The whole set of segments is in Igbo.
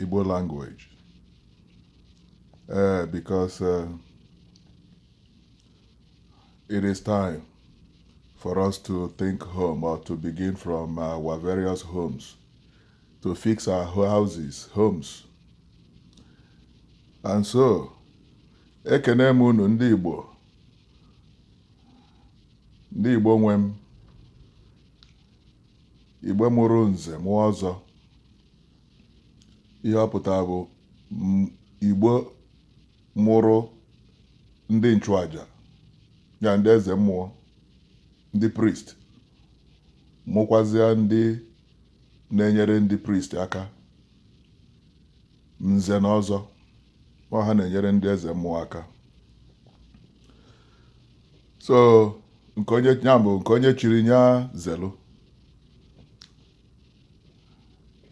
Igbo language uh, because uh, it is time for us to think home or to begin from our various homes to fix our houses, homes. And so, ekene m unu ndị Igbo ndị Igbo nwe m Igbo mụrụ nze mụọ ọzọ ihe ọ pụtara bụ m- igbo mụrụ ndị nchụaja ya ndị eze mmụọ ndị priest mụkwazịa ndị na-enyere ndị priest aka nze na ọzọ ọ ha na-enyere ndị eze mmụọ aka so nke onye ya bụ nke onye chiri nya zelu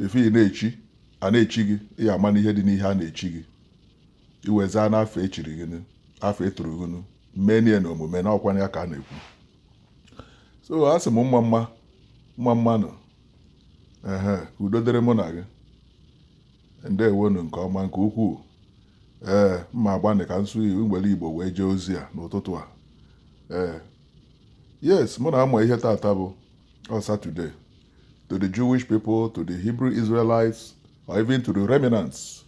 ife ị na-echi a na-echi gị ị amanụ ihe dị n'ihe a na-echi gị ị wee zaa n'afa e chiri gị afa e turu gị mee nya n'omume na ọkwanụ ya ka a na-ekwu so a sị m mma mma mma mma nụ ehe udo dịrị mụ na gị ndewo nụ nke ọma nke ukwuu ee m ma-agbanị ka m sụ m were igbo wee jee ozi a n'ụtụtụ a ee yes mụ na gị ma ihe tata bụ ọ Saturday to the Jewish people, to the Hebrew Israelites, or even to the remnants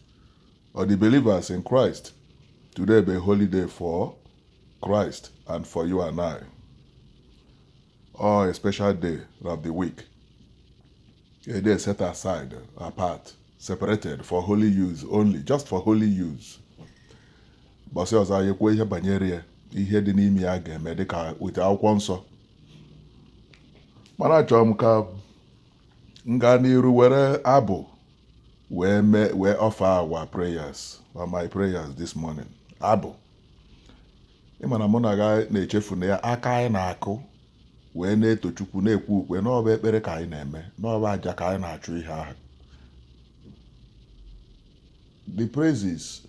or the believers in Christ. Today bụ a holy day for Christ and for you and I. Or a special day of the week. A day set aside, apart, separated for holy use only, just for holy use. Mbọsị ọzọ anyị kwuo ihe banyere ya, ihe dị n'ime ya ga-eme dịka weta akwụkwọ nsọ mana achọrọ m ka m gaa n'iru were abụ wee offer our prayers or my prayers this morning abụ ịma na mụ na gị na-echefu na ya aka anyị na-akụ wee na-eto chukwu na-ekwe ukwe na ọ bụ ekpere ka anyị na-eme na ọ bụ aja ka anyị na-achụ ihe ahụ the praises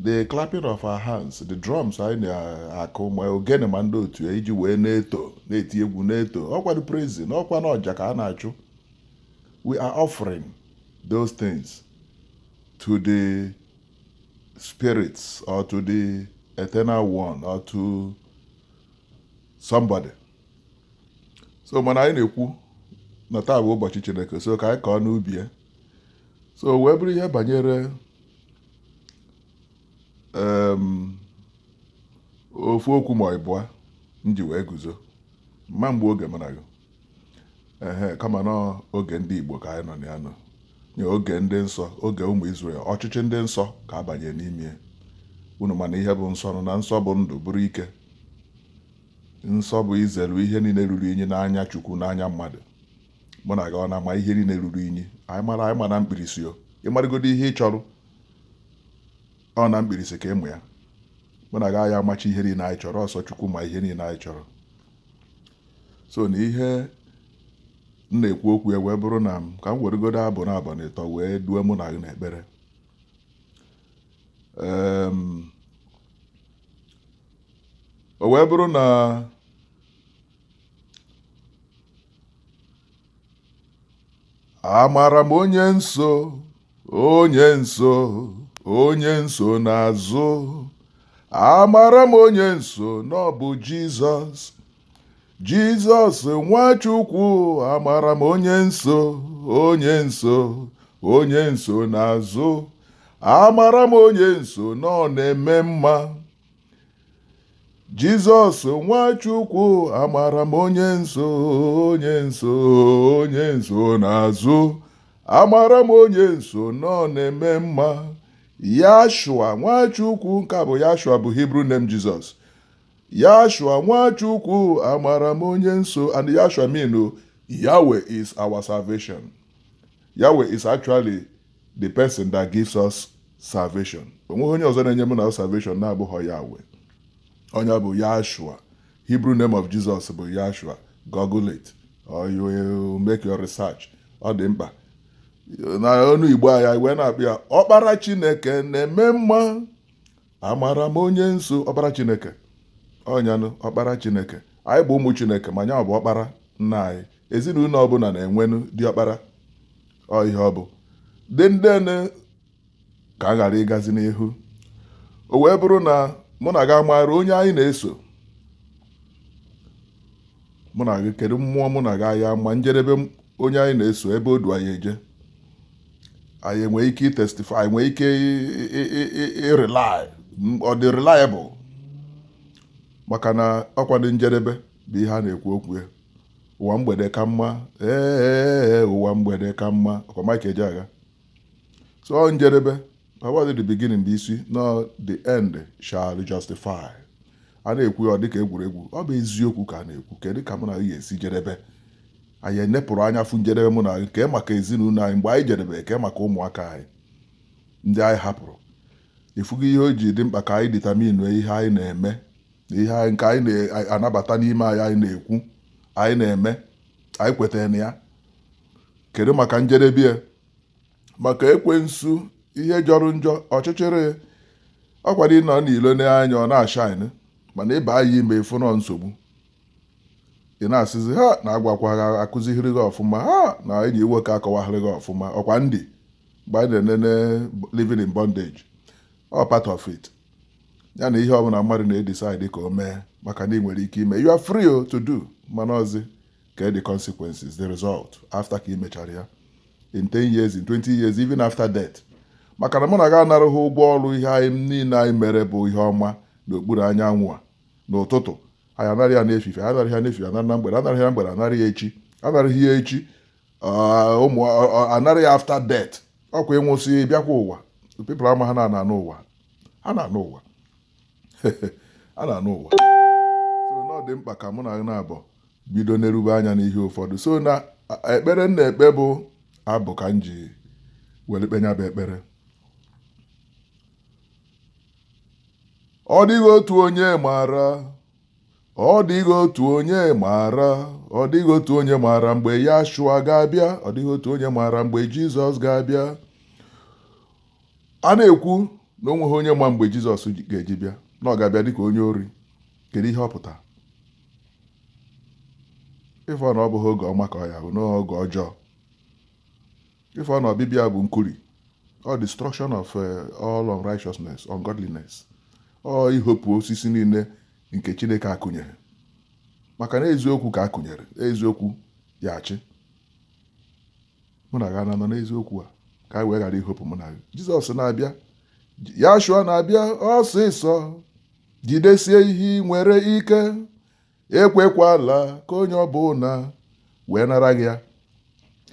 the clapping of our hands the drums anyị na-akụ ma ogene ma ndị otu anyị ji wee na-eto na-eti egwu na-eto ọkwanụ praising ọkwanụ aja ka a na-achụ we are offering those things to the spirits or to the eternal one or to somebody so mana anyị na-ekwu na taa bụ ụbọchị chineke so ka anyị kọọ n'ubi ya so wee bụrụ ihe banyere ofu okwu ma ịbụa m ji wee guzo mma mgbe oge mụ na gị ehe kama na oge ndị Igbo ka anyị nọ na ya nọ n'oge ndị nsọ oge ụmụ Izrel ọchịchị ndị nsọ ka a banyere n'ime unu ma na ihe bụ nsọ na nsọ bụ ndụ bụrụ ike nsọ bụ izelu ihe niile ruru inyi n'anya Chukwu n'anya mmadụ mụ na gị ọ na-ama ihe niile ruru inyi anyị mara anyị ma na mkpirisi o ị marugodo ihe ị chọrọ ọ na mkpirisi ka ị ma ya mụ na gị anyị amachi ihe niile anyị chọrọ ọ sọ Chukwu ma ihe niile anyị chọrọ so na ihe m na-ekwu okwu ya wee bụrụ na m ka m weregodo abụ naabọ na ịtọ wee due mụ na gị n'ekpere Em, o wee bụrụ na amara m onye m so onye m so onye m so n'azụ amara m onye m so na ọ bụ Jizọs Jizọs Nwachukwu amara m onye m so onye m so onye m so n'azụ amara m onye m so na ọ na-eme mma Jizọs Nwachukwu amara m onye m so onye m so onye m so n'azụ amara m onye m so na ọ na-eme mma Yashua Nwachukwu nke a bụ Yashua bụ Hebrew name Jesus Yashua Nwachukwu amara m onye m so and Yashua mean Yahweh is our salvation Yahweh is actually the person that gives us salvation onweghị onye ọzọ na-enye mụ na salvation na-abụghọ Yahweh onye bụ Yahshua Hebrew name of Jesus bụ Yahshua google it or you make your research ọ dị mkpa na ọnụ Igbo anyị wee na-akpọ ya ọkpara Chineke na-eme mma amara m onye m so ọkpara Chineke ọ nya nụ ọkpara Chineke anyị bụ ụmụ Chineke ma nya bụ ọkpara nna anyị ezinụlọ ọbụla na-enwenụ diọkpara ọ ihe ọ bụ then then ka m ghara ịgazi n'ihu o wee bụrụ na mụ na gị amaara onye anyị na-eso mụ na gị kedu mmụọ mụ na gị anyị ama njedebe onye anyị na-eso ebe o du anyị eje anyị enwee ike ịtestify nwee ike ịrely ọ dị reliable maka na ọkwa ndụ njedebe bụ ihe a na-ekwu okwu ya ụwa mgbede ka mma ee ụwa mgbede ka mma ọkwa Mike Ejeagha so ọ njedebe ọ bụghị the beginning bụ isi na the end shall justify a na-ekwu ya ọ dịka egwuregwu ọ bụ eziokwu ka a na-ekwu kedu ka mụ na gị esi jedebe anyị enepụrụ anya fụ njedebe mụ na gị kee maka ezinụlọ anyị mgbe anyị jedebe nke maka ụmụaka anyị ndị anyị hapụrụ ịfụgo ihe o ji dị mkpa ka anyị determine ihe anyị na-eme ihe anyị nke anyị na-anabata n'ime anyị anyị na-ekwu anyị na-eme anyị kwetara na ya kedu maka njedebe ya maka ekwensu ihe jọrọ njọ ọchịchịrị ọkwanụ ị nọ n'ilo n'anya ọ na-ashine mana ị banye ime ị fụ na ọ nsogbu ị na-asịzi ha na agwakwa ha akụzihiri gị ọfụma ha na enyi nwoke akọwahịrị gị ọfụma ọkwa ndị mgbe anyị na-enene living in bondage ọ part of it ya na ihe ọbụla mmadụ na-edecide ka o mee maka na ị nwere ike ime you are free to do mana ọzi ka the consequences the result after ka ị mechara ya in 10 years in 20 years even after death maka na mụ na gị anaraghị ụgwọ ọrụ ihe anyị niile anyị mere bụ ihe ọma n'okpuru anyanwụ a n'ụtụtụ anyị anara ya n'efife anaraghị ya n'efife anara na mgbede anaraghị ya mgbede anara ya echi anaraghị ya echi anara ya after death ọkwa ị nwụsị bịakwa ụwa people amaghị na a na-anọ ụwa a na-anọ ụwa a na-anọ ụwa so na ọ dị mkpa ka mụ na gị naabọ bido nerube anya n'ihe ụfọdụ so na ekpere m na-ekpe bụ abụ ka m ji were kpee nya bụ ekpere ọ dịghị otu onye maara Ọ dịghị otu onye maara, ọ dịghị otu onye maara mgbe Yashua ga-abịa, ọ dịghị otu onye maara mgbe Jizọs ga-abịa. A na-ekwu na o nweghị onye ma mgbe Jizọs ga-eji bịa, na ọ ga-abịa dịka onye ori. Kedu ihe ọ pụtara? Ị fụ na ọ bụghị oge ọma ka ọ ya-abụ n'oge ọjọọ. Ị fụ na ọbịbịa bụ nkuri ọ destruction of eh, all unrighteousness ungodliness ọ ihopụ osisi niile nke Chineke akụnyeghị maka na eziokwu ka a kụnyere eziokwu ya-achị mụ na gị anọ n'eziokwu a ka e wee ghara ihopụ mụ na gị Jizọs na-abịa Yashua na-abịa ọsịsọ jidesie ihe i nwere ike ekwekwala ka onye ọbụla wee nara gị ya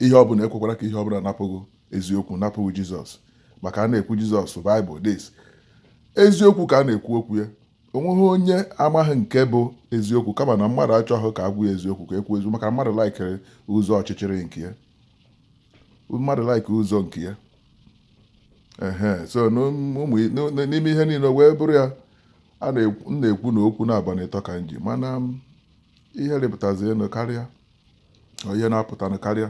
ihe ọbụla ekwekwala ka ihe ọbụla napụ gị eziokwu napụ gị jizọs maka a na-ekwu jizọs baịbụl this eziokwu ka a na-ekwu okwu ya o nweghị onye amaghị nke bụ eziokwu kama na mmadụ achọghị ka a gwa ya eziokwu ka e kwuo eziokwu maka mmadụ likere ụzọ ọchịchịrị nke ya mmadụ likere ụzọ nke ya ehe so n'ime ihe niile wee bụrụ ya m na-ekwu na okwu naabọ na ịtọ ka m ji mana um, ihe rịpụtazienụ karịa ihe na-apụtanụ karịa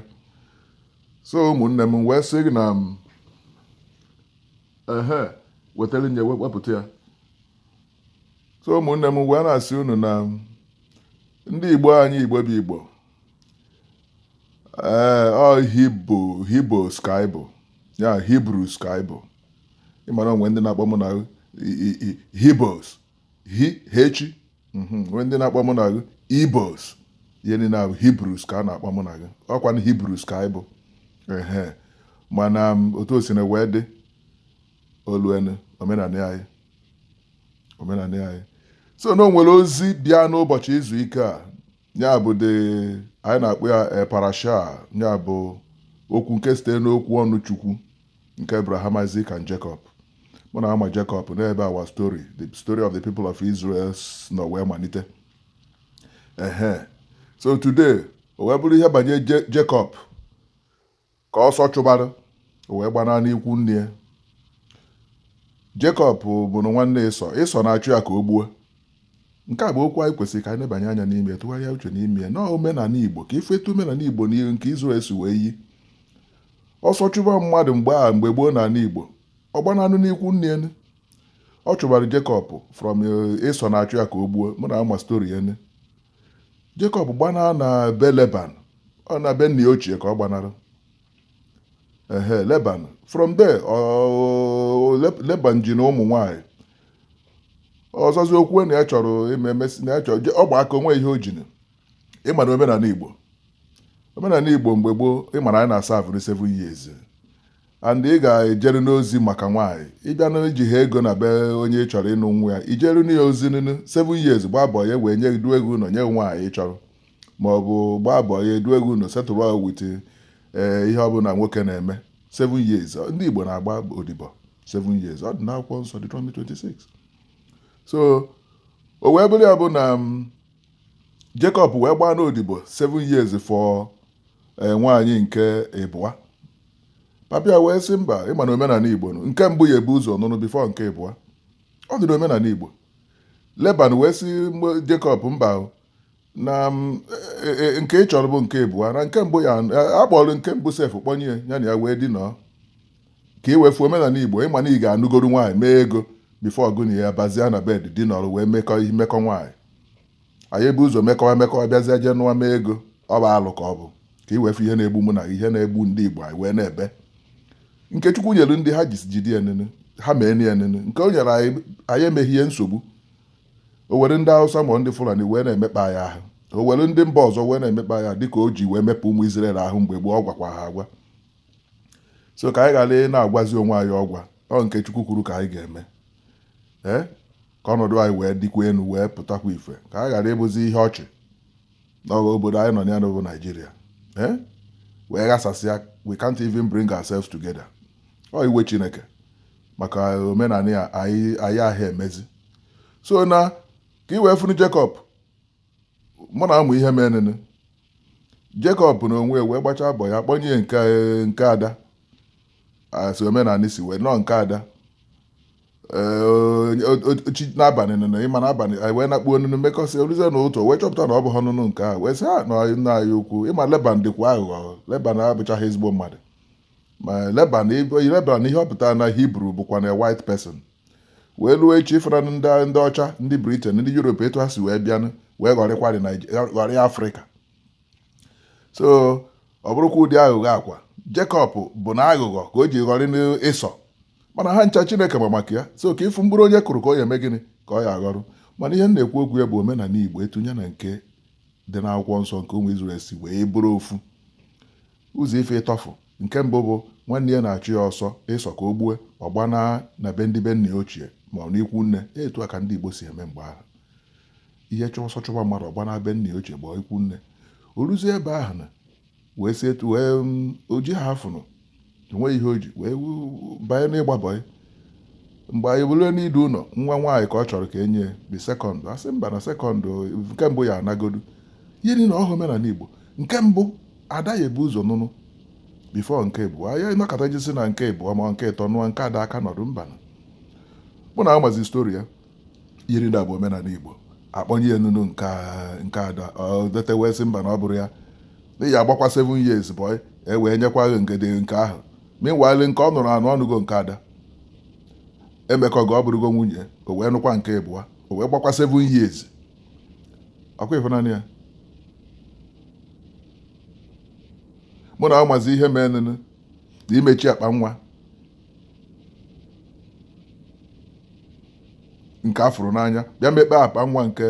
so ụmụnne m wee sị gị na um, ehe wetara nye wepụta ya so ụmụnne m wee na-asị unu na um, ndị igbo anyị igbo bụ igbo ee eh, ọ hibo hibos ka anyị bụ ya Hebrews ka anyị bụ ị ma na o nwere ndị na-akpọ mụ na gị hibos H mhm, nwee ndị na-akpọ mụ na gị ibos ihe niile ahụ Hebrews ka a na-akpọ mụ na gị ọ kwa na Hebrews ka anyị bụ ehe mana um, otu o si na wee dị oluenu omenala anyị omenala anyị so na o nwere ozi bịa n'ụbọchị izu ike a ya bụ de anyị na-akpọ ya eh, parasha ya bụ okwu nke site n'okwu ọnụ chukwu Nke Abraham, Isaac and Jacob. Mụ na gị ma Jacob n'ebe our story, the story of the people of Israel nọ wee malite. Ehe. So today, o wee bụrụ ihe banye Jacob ka ọsọ chụbara o wee gbanaa n'ikwu nne ya. Jacob bụnụ nwanne Esau. Esau na-achụ ya ka o gbuo. nke a bụ okwu anyị kwesịrị ka anyị nebanye anya n'ime ya tụgharịa uche n'ime ya na omenala Igbo ka ị fụ etu omenala Igbo na nke Israel si wee yie ọsọ chụba mmadụ mgbe a mgbe gboo n'ala Igbo ọ gbananụ n'ikwu nne ya nụ ọ chụbara Jacob from Esau na-achụ ya ka o gbuo mụ na gị ma story a nụ Jacob gbanaa na be Laban ọ na be nne ya ochie ka ọ gbanara ehe Laban from there Laban jinụ ụmụ nwanyị ọzọzi o kwuo na ya chọrọ ime emesi na ya chọrọ ọ gba aka o nweghị ihe o jinụ ị ma na omenala igbo omenala igbo mgbe gboo ị ma na anyị na-a serve nụ seven years and ị ga-ejerenụ ozi maka nwaanyị ị bịanụ i jiha ego na be onye ị chọrọ ịnụ nwa ya i jerunụ ya ozi nunu seven years gbaa boy e wee nye gị duo gị ụlọ nye gị nwaanyị ị chọrọ ma ọ bụ gbaa boy e duo gị ụnọ settle gị with ee ihe ọbụla nwoke na-eme 7 years ndị Igbo na-agba odibo 7 years ọ dị n'akwụkwọ nsọ Deuteronomy 26 so o wee bụrụ ya bụ na mm, Jacob wee gbaanụ odibo 7 years for eh, nwaanyị nke ịbụa papa ya wee sị mba ị ma na omenala Igbo nụ, nke mbụ ya-ebu ụzọ nụọnụ before nke ịbụa ọ dị n'omenala Igbo Laban wee sị Jacob mba o, na m, e- e- nke ị chọrọ bụ nke abụọ na nke mbụ ya a kpọrọ nke mbụ sef kpọnye ya ya na ya wee dinọọ ka i wee fụ omenala igbo ịma na ị ga-anụgoro nwaanyị mee ego before ọ gị na ya bazia na bed dinọrọ wee mekọ ihe mekọ nwaanyị anyị ebu ụzọ mekọwa mekọwa bịazie jee nụwa mee ego ọ bụ alụ ka ọ bụ ka i wee fụ ihe na-egbu mụ na gị, ihe na-egbu ndị igbo anyị wee na-ebe nke chukwu nyere ndị ha jisi jide ya nene ha mee na ya nene nke o nyere anyị anyị emeghị ya nsogbu o were ndị Hausa ma ndị Fulani wee na-emekpa anyị ahụ o were ndị mba ọzọ wee na-emekpa anyị ahụ dịka o ji wee mekpa ụmụ Izrel ahụ mgbe gboo ọ gwakwa ha agwa so ka anyị ghara ị na-agwazi onwe anyị ọgwa ọ nke Chukwu kwuru ka anyị ga-eme ee ka ọnọdụ anyị wee dịkwa elu wee pụtakwa ife ka anyị ghara ịbụzi ihe ọchị n'ọha obodo anyị nọ na ya n'obodo Naijiria ee wee ghasasịa we can't even bring ourselves together ọ iwe Chineke maka omenala ya anyị anyị aha emezi so na ka i wee fụnụ Jekọb mụ na amụ ihe menụnụ Jekọb na onwe ya wee gbachaa bọị a kpọnye ya nke nke ada a sị omenala si wee nọọ nke ada Ee, onye- o- o- chi n'abalị nụnụ ịma n'abalị anyị wee nakpuo nụnụ mekọsị o luzie n'ụtụtụ wee chọpụta na ọ bụha nụnụ nke a wee sị ha na nna anyị ukwu ịma Leban dịkwa aghụghọ Leban abụchaghị ezigbo mmadụ ma Leban ibe- Leban ihe ọ pụtara na Hibru bụkwa na white person wee ruo echi ịfụra na ndị ndị ọcha ndị Britain ndị Europe etu ha si wee bịanụ wee ghọrịkwarị Naij- ghọrịa Afrịka so ọ bụrụkwa ụdị aghụghọ a ka Jekọb bụ na aghụghọ ka o ji ghọrị Ịsọ mana ha ncha chineke ma maka ya so ka ịfụ mkpụrụ onye kụrụ ka ọ ya eme gịnị ka ọ ya aghọrọ mana ihe m na-ekwu okwu ya bụ omenala igbo etu ya na nke dị n'akwụkwọ nsọ nke ụmụ Izrel si wee bụrụ ofu Ụzọ ife ịtọ ofu nke mbụ bụ nwanne ya na-achụ ya ọsọ Ịsọ ka o gbue, ọ gbanaa na be ndị be nna ya ochie ma ọ n'ikwu nne. Etu a ka ndị Igbo si eme mgbe ahụ. Ihe chụọ ọsọ chụba mmadụ, ọ gbanaa be nna ya ochie gbaa ikwu nne. O ruzie ebe ahụ na wee si etu wee o jiha afụ nụ, o nweghị ihe o ji, wee banye n'ịgba bọị. mgbe anyị bụrụ n'idu ụlọ nwa nwaanyị ka ọ chọrọ ka e nye the second a sị mba na second nke mbụ ya anagodu ihe niile ahụ omenala Igbo nke mbụ ada ya ebu ụzọ nụnụ before nke abụọ ya ịnọkọta jisi na nke abụọ ma nke ịtọ nụọ nke ada aka nọdụ mba mụ na amazi stori ya ihe niile a bụ omenala Igbo a kpọnye ya nụnụ nke ada o tete wee sị mba na ọ bụrọ ya ya agbakwa 7 years boy e wee nyekwa gị ngede nke ahụ meanwhile nke ọ nụrụ anụ ọ nụgo nke ada emekọgo ọ bụrụgo nwunye o wee nụkwa nke ịbụa o wee gbakwa 7 years ọkwa ịfụnanya ya mụ na amazi ihe menụ na imechi akpa nwa nke afụrụ n'anya bịa mekpe akpa nwa nke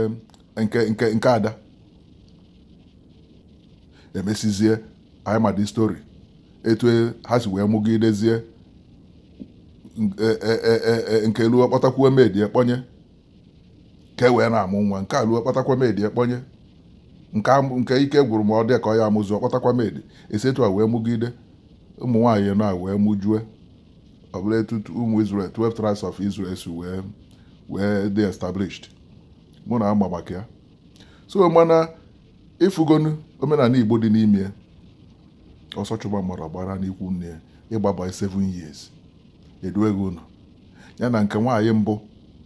nke nke nke ada emesizie anyị ma the story etu e, ha si wee mụgidezie e, e, nke luo kpọtakwuo maid kpọnye ka e wee na-amụ nwa nke a luo kpọtakwa maid kpọnye nke ike gwụrụ ma ọ dị ka ọ ya amụzi ọ kpọtakwa maid esi etu a wee mụgide ụmụ nwaanyị na wee mụjue ọ bụrụ etu ụmụ Israel 12 tribes of Israel si wee wee dị established mụ na ama maka ya so mana ịfụgonu omenala igbo dị n'ime ya ọsọ chụba mmadụ gbara n'ikwu nne ya ịgbaba 7 years eduego ụlọ ya na nke nwaanyị mbụ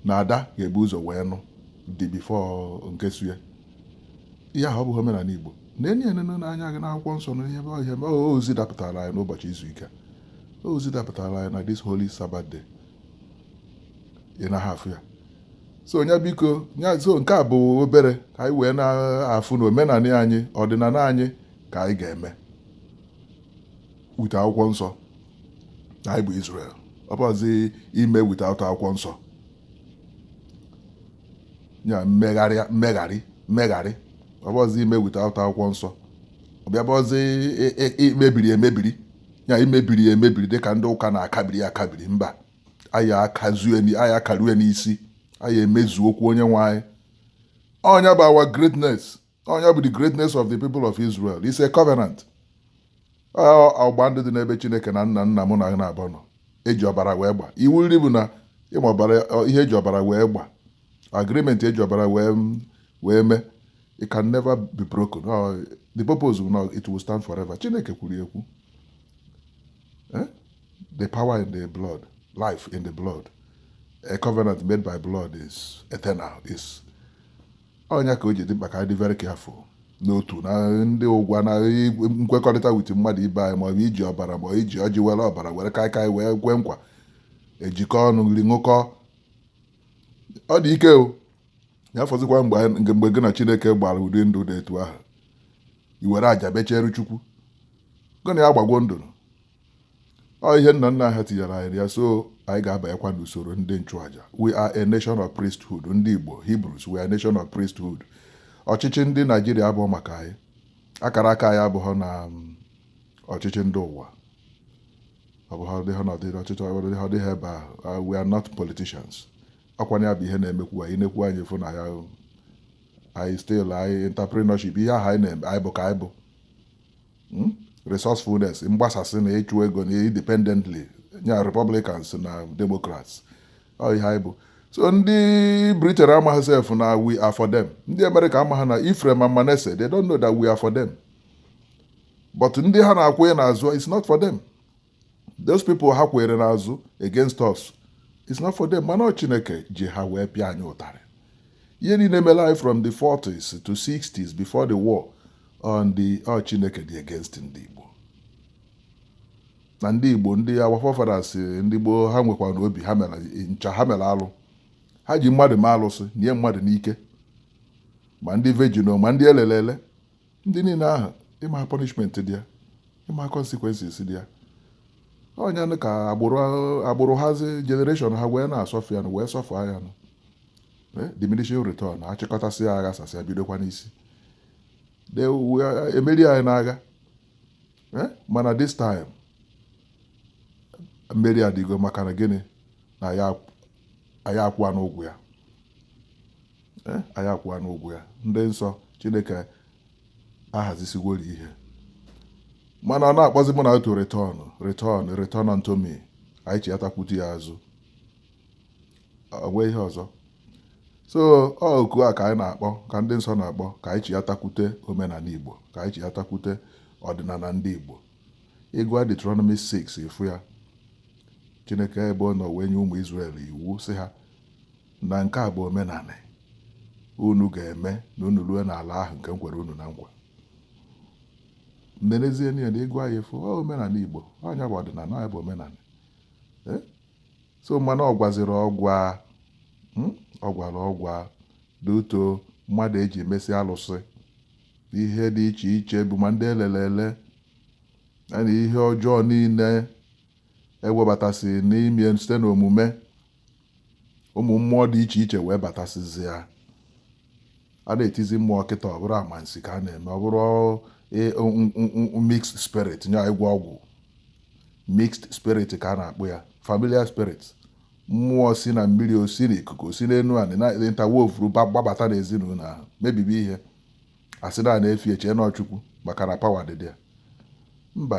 na ada ga-ebu ụzọ wee nụ di before nke so ya ihe ahụ ọ bụghị omenala igbo na enye enene n'anya gị n'akwụkwọ nsọ na ihe ihe ozi dapụtara anyị n'ụbọchị izu ike ozi dapụtara anyị na this holy Sabbath day ị na afụ ya so onye biko nya so nke a bụ obere ka anyị wee na-afụ na omenala anyị ọdịnala anyị ka anyị ga-eme with akwụkwọ nsọ na anyị bụ Israel ọ bụzi ime without akwụkwọ nsọ ya mmegharị mmegharị mmegharị ọ bụzi ime without akwụkwọ nsọ ọ bịa bụzi e, e, e, mebiri emebiri ya imebiri ya emebiri dịka ndị ụka na-akabiri akabiri mba anyị akazue anyị akarue n'isi anyị emezu okwu onye nwe anyị ọnya bụ our greatness ọnya bụ the greatness of the people of Israel is a covenant ọgba ndụ dị n'ebe Chineke na nna nna mụ na na abụọ nọ eji ọbara wee gba iwu nri bụ na ịma ọbara ihe eji ọbara wee gba agreement eji ọbara wee wee mee it can never be broken oh, the purpose will not, it will stand forever chineke kwuru ekwu eh? the power in the blood life in the blood a covenant made by blood is eternal is ọnya ka o ji dị mkpa ka anyị dị very careful n'otu na ndị ụgwa na nkwekọrịta with mmadụ ibe anyị maọbụ iji ọbara ma iji ọjị were ọbara were kaikai wee kwe nkwa ejikọ ọnụ nri ṅụkọ ọ dị ike ọ ya fọzikwa mgbe anyị- nke mgbe gị na chineke gbara ụdị ndụ dị etu ahụ i were aja bechere chukwu gị na ya gbagwo ndụ ọ ihe nna nna ha tinyere anyị na ya so anyị ga-abanyekwa n'usoro ndị nchụaja we are a nation of priesthood ndị igbo hebrews we are a nation of priesthood ọchịchị ndị naijiria abụhọ maka anyị akara aka anyị abụghị na mm, ọchịchị ndị ụwa ọ bụ ha dị ha nọdịrị ọchịchị ọ dị ha dị ha ebe ahụ Ah, we are not politicians ọ kwanụ ya bụ ihe na-emekwu anyị nekwu anyị fụ na ya ahụ. anyị still anyị entrepreneurship ihe ahụ anyị na-eme anyị bụ ka anyị bụ Mm? resourcefulness mgbasasị na ịchụ ego na independently nya republicans na democrats ọ ihe anyị bụ so ndị britain amaghị sef na we are for them ndị amerịka amaghị na Ephraim and Manasseh they don't know that we are for them but ndị ha na-akwụnye n'azụ it's not for them those people ha kwụrụ n'azụ against us it's not for them mana ọ chineke ji ha wee pịa anyị ụtarị ihe niile mere anyị from the 40s to 60s before the war on the ọ chineke dị against ndị igbo na ndị igbo ndị our forefathers ndị gboo ha nwekwa na obi ha mere ncha ha mere alụ ha ji mmadụ ma alụsị nye mmadụ n'ike ma ndị virgin ma ndị elelele ndị niile ahụ ịma ha punishment dị ya ịma ha consequences dị ya ọ nya nụ ka agbụrụ agbụrụ hazi generation ha wee na-asuffer ya nụ wee suffer ya nụ Eh, diminishing return a chịkọtasịa a ghasasịa bidokwa n'isi They were- e meri anyị n'agha Eh, mana this time mmeri adịgo maka na gịnị na anyị akwụwanụ ụgwọ ya Eh, anyị akwụwanụ ụgwọ ya ndị nsọ chineke ahazisigworo ihe mana ọ na-akpọzi ụmụ nya to return return return unto me anyị chighatakwute ya azụ o nweghị ihe ọzọ so ọ oku a ka anyị na-akpọ ka ndị nsọ na-akpọ ka anyị chighatakwute omenala igbo ka anyị chighatakwute ọdịnala ndị igbo ị gụa Deuteronomy 6 ị fụ ya chineke ebe ọ nọ wee nye ụmụ Israel iwu sị ha Na nke a bụ omenanị unu ga-eme na unu rue n'ala ahụ nke m kwere unu na nkwa. Nenezienụ ya na ị gụa ya ị fụ, ọ omenanị Igbo, ọ ya bụ ọdịnala, ọ ya bụ omenanị. Eh? So mana ọ gwaziri ọgwa, hmm? ọ gwara ọgwa due to mmadụ e ji emesi alụsị ihe dị iche iche bụ ma ndị elelele na ihe ọjọọ niile e webatasị n'ime site n'omume ụmụ mmụọ dị iche iche wee batasịzịa a na-etizi mmụọ kịta ọ bụrụ amansi ka a na-eme ọ bụrụ e, mixed spirit nya ịgwọ ọgwụ mixed spirit ka a na-akpọ ya familiar spirit mmụọ si na mmiri o si na ikuku o si n'enu anị na ntawovuru gbabata n'ezinụlọ ahụ mebibi ihe a sị na a na-efe e chee na ọ Chukwu maka na pawa dị dị ya mba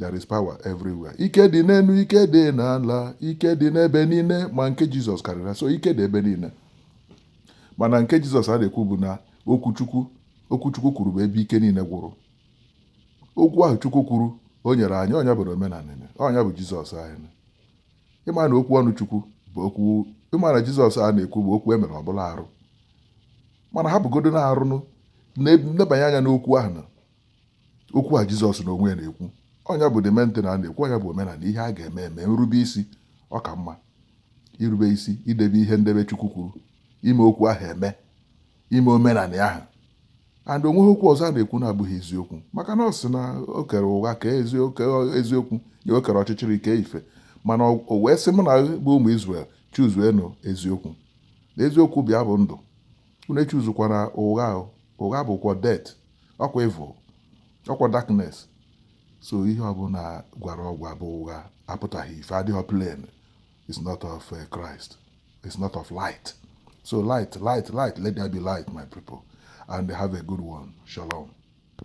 There is power everywhere. Ike dị n'enu, ike dị n'ala, ike dị n'ebe niile, ma nke Jizọs karịrị. So ike dị ebe niile. Mana nke Jizọs a na-ekwu bụ na okwu Chukwu okwu Chukwu kwuru bụ ebe ike niile gwụrụ. Okwu ahụ Chukwu kwuru o nyere anyị ọ nya bụ na omenala ọ nya bụ Jizọs anyị. Ị ma na okwu ọnụ Chukwu bụ okwu ị ma na Jizọs a na-ekwu bụ okwu e mere ọ bụrụ anụ arụ. Mana hapụgodu anụ arụ nụ nebanye anya n'okwu ahụ na okwu a Jizọs na onwe ya na-ekwu ọ nya bụ the main thing a na-ekwu ọ nya bụ omenala ihe a ga-eme eme nrube isi ọ ka mma irube isi idebe ihe ndebe Chukwu kwuru ime okwu ahụ eme ime omenala ahụ and onweghị okwu ọzọ a na-ekwu na-abụghị eziokwu maka na ọ sị na o kere ụgha kee eziokwu ya o kere ọchịchịrị kee ife mana o wee sị mụ na bụ ụmụ Izrel chuzuenụ eziokwu na eziokwu bụ ya bụ ndụ unu echuzukwana ụgha ụgha bụkwa death ọkwa evil ọkwa darkness so ihe ọbụla gwara ọgwa bụ ụgha apụtaghị ife adịghị plain is not of eh, Christ is not of light so light let there be light my people and have a good one shalom